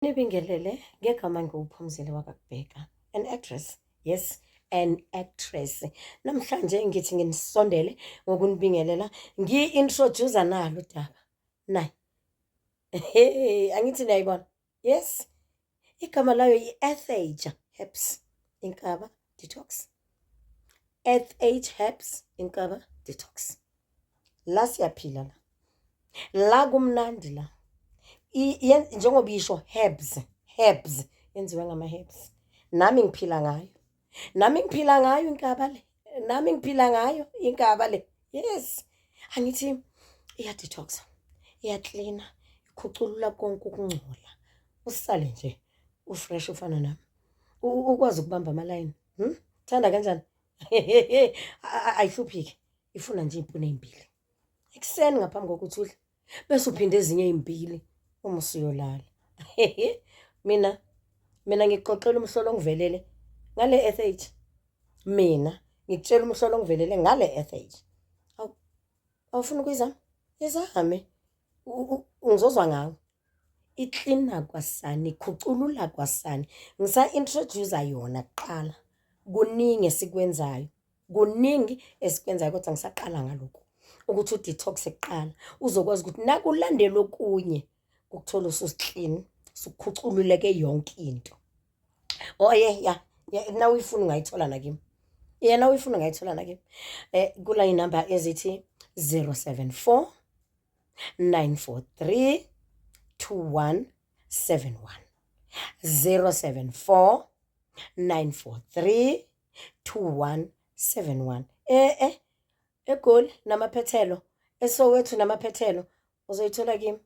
Nibingelele ngegama ngiwuphumzile wakakubheka an actress yes an actress namhlanje ngithi nginisondele ngokunibingelela ngi-introducer nalo udaba nayi hey angithi niyayibona yes igama layo yi-etheja herbs inkaba detox eth herbs inkaba detox la siyaphila la la kumnandi la njengoba isho herbs herbs yenziwe ngama herbs nami ngiphila ngayo nami ngiphila ngayo inkaba le nami ngiphila ngayo inkaba le yes angithi iya detox iya cleaner ikhuculula konke ukungcola usale nje ufresh ufana nami ukwazi ukubamba amalayini hmm? thanda kanjani ayihluphike ifuna nje iy'puni ey'mbili ekuseni ngaphambi kokuthi udle bese uphinde ezinye ey'mbili uma usuyolala mina mina ngikuxoxela umhlolo ongivelele ngale eth mina ngikutshela umhlolo ongivelele ngale eth awufuna ukuyizama izame ngizozwa ngawo iklina kwasani, ikhuculula kwasani. Ngisa-introduce-a yona kuqala, kuningi esikwenzayo, kuningi esikwenzayo kodwa ngisaqala ngalokhu ukuthi u-detox-e kuqala uzokwazi ukuthi nakulandela okunye ukuthola ususiklini, usukhucululeke yonke into. Oh ye ya, nawuyifuna ungayithola nakimi, ya nawuyifuna ungayithola nakimi. Kula iy'namba ezithi zero seven four. 943 2171 074 943 2171 eh eh egoli namaphethelo esowethu namaphethelo uzoyithola kimi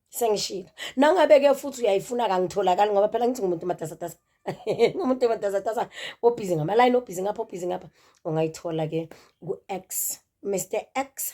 sengishilo nangabe ke futhi uyayifuna kangitholakali ngoba phela ngithi ngumuntu matasatasa ngumuntu matasatasa obhizi ngama line obhizi ngapha obhizi ngapha ungayithola ke ku X Mr X